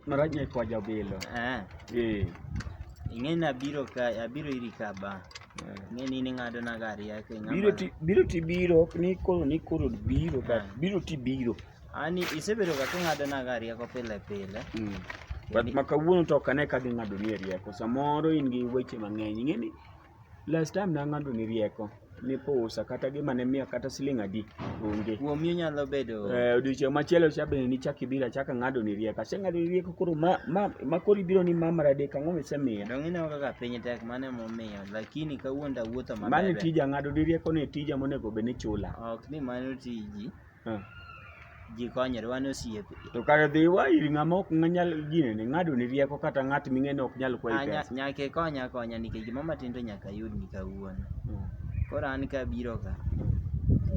Marach ni kwa jabilo. Eh. Eh. Ing'e na biro ka abiro iri ka ba. Eh. Ing'e ni ni ng'ado na gari yake ng'ama. Biro ti biro ti biro ok ni koro ni koro biro ka eh. biro ti biro. Ani isebedo ka ng'ado na gari yako pile pile. Mm. But makawuono to ok ane ka ging'ado ni e rieko. Samoro in gi weche mang'eny. Ing'e ni Last time nang'ado ni rieko ni pusa kata gima ne miya kata siling adi onge. Kuomi onyalo bedo Eh, odiochieng' machielo cha bende nichak ibiro achaka ng'ado ni rieko. Aseng'ado ni rieko koro ma ma ma koro ibiro ni ma maradek ang'o misemiya? dong ineno kaka piny tek mane momiyo lakini kawuono awuotho Mano e maber. tija ng'ado ni rieko ni e tija monego bed ni chula. Ok ni mano tiji. Eh. ji konyre wan osiepe To kare dhi iwa ir ng'ama ok nyal gine ni ng'ado ni rieko kata ng'at ming'eyo ni ok nyal kwayi Ah, nya- pesa. nyaka ikonya akonya nikech gima matin to nyaka ayudni kawuono Mm. koro an kabiro ka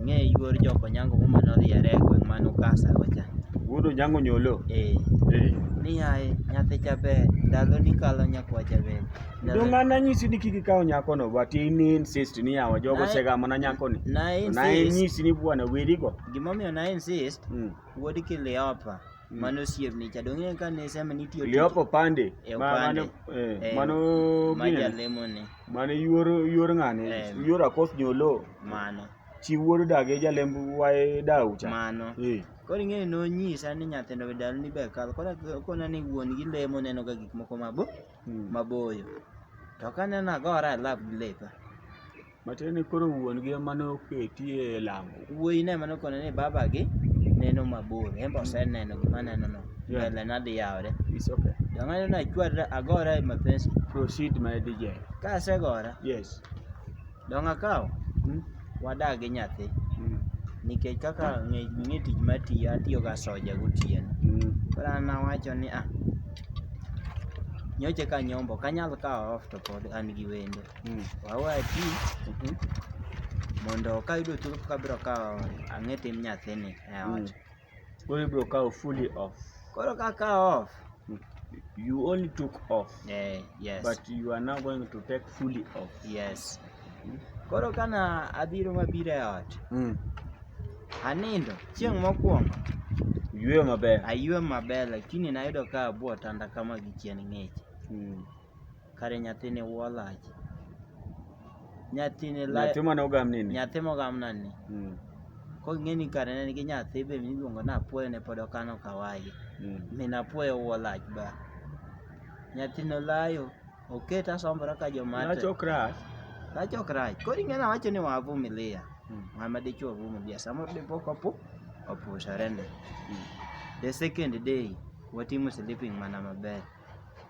ng'e yuor joko nyango muma noriere e gweng' man ukasa kocha Wuod Onyango Nyolo. ee Eh. ni yaye nyathi jaber ndalo ni kalo nyakwa jaber Donga na nyisi ni kiki kawo nyako no but in insist ni yawa jogo segamo na nyako ni. Na insist. Na nyisi ni bwana weri go. Gimomiyo na insist. Mm. Wuod Kiliopa. Mm. Mano osiepni cha donge ka ne sema ni tiyo. Kiliopa pande. E, mano eh, eh, mano maja lemo ni. Mano yuor yuor ng'ane. Eh. Yuor akos nyolo. Mano. Chi wuod dage jalemb wae dau cha. Mano. Eh. Koro ing'eyo nonyisa ni nyathindo be dal ni be kal. Koro kona ni wuon gi lemo neno ga gik moko mabo. Hmm. maboyo to kaneno agora e lab gi lepa matiende ni koro wuon gi ema noketi e lamo wuoyi ne ema nokone ni baba gi neno mabor en be oseneno gima neno no Yeah. mbele nadhi yawre It's okay. to ng'ano nachwarra agora e mapensi Proceed my DJ. ka asegora Yes. Donge akaw? Mm. Wadak gi nyathi. Mm. Nikech kaka ng'e tich matiyo, atiyo ga soja gotieno. Mm. Koro an nawacho ni ah, nyoche ka nyombo kanyal kawo off to pod an gi wendo. Mm. Wawa ti. Mm -hmm. Mondo kayudo thuolo kabiro kawo ang'e tim nyathini e ot. Mm. Koro ibiro kawo fully off. Koro ka kawo off. You only took off. Eh, yes. But you are now going to take fully off. Yes. Hmm? Koro kana abiro mabiro e ot. Mm. Anindo chieng' mokwongo. Yweyo maber. Aywe maber lakini nayudo ka abwo tanda kama gi chien ng'ich. Mm. Kare nyathini wuo lach. Nyathini la Nyathi mane ogam nini? nyathi mogamna ni. Mm, Kong'e ni kare ne nigi nyathi be miluongo ni Apuoyo ne pod okano kawaye. mm, Min Apuoyo wuo lach ba. Nyathini olayo. Oketa asombora ka joma Lach ok rach. Lach ok rach. Koro ing'e nawacho ni wavumilia. Mm, Ng'ama dichwo vumilia. Samoro dipo kopo opusore ne. mm. The second day watimo sleeping mana maber.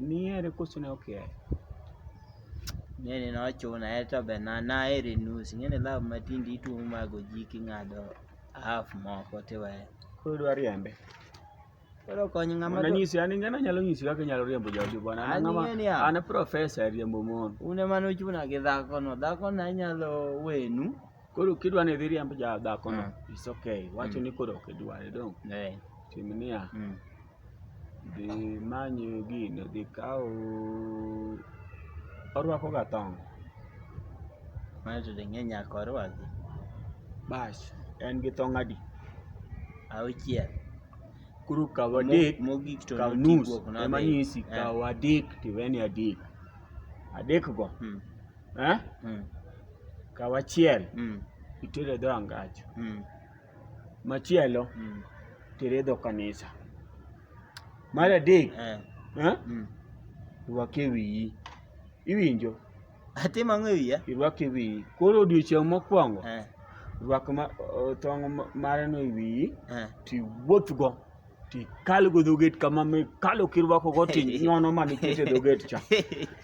Nihere koso ne ok ihere? Nene nochuna aye to be na nahere nus. Ing'eni love matindi ituomo mago ji king'ado half moko tiweyo. Koro idwa riembe. Koro kony ng'ama Mondo anyisi an ing'eni anyalo nyisi kaka inyalo riembo jaodi bwana. An An ng'ama ing'eni ya. an profesa e riembo mon. un ema nochuna gi dhakono. Dhakono anyalo wenu. Koro kidwa ni idhi riemb ja dhakono, it's okay. Wacho ni koro ok idware dong. Eh. Tim niya, Mm. Gimanye gini dhi kawo, orwako ga tong'. Mae to ding'e nyaka orwaki. Bas, en gi tong' adi? Auchiel. Koro kaw adek, Mogik to kaw noti nus. guok Ema nodhi. nyisi, Eh. kaw adek tiweni adek. Adek go, Mm, eh? mm, Kaw achiel, mm, itere dho angach. mm. Machielo mm. tere dho kanisa. Mar adek eh. Eh? Mm. rwake wiyi. Iwinjo? Atim ang'o e wiya? Irwake wiyi. Koro odiochieng' mokwongo eh. rwak tong' mareno e wiyi eh. tiwuothgo. kalo go dhoget kama kalo kirwako go to inyono mana ikete dhoget cha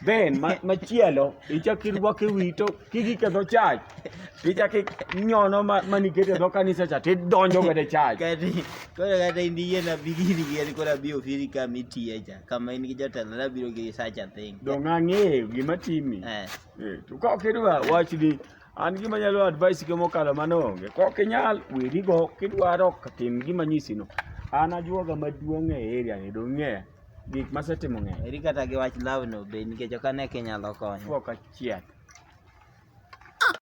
then machielo ichak irwako e wi to kigiketho chach tichak inyono mana ikete dho kanisa cha tidonjo godo e chach koro kata in iyie na bigini giyani koro abi ofiri kama itiye cha kama in gi jotelo nabiro gi sacha thing donge ang'eyo gima timi eh. eh, to ka ok idwa wachni An gima nyalo advice gi mokalo mano onge. Kok inyal weri go kidwaro tim gima nyisi no. An ajuoga maduong' e area ni dong' ng'eya. Gik masetimo ng'eya. Eri kata gi wach law no be nikech ok ane kinyalo konyo. Fuok achiel.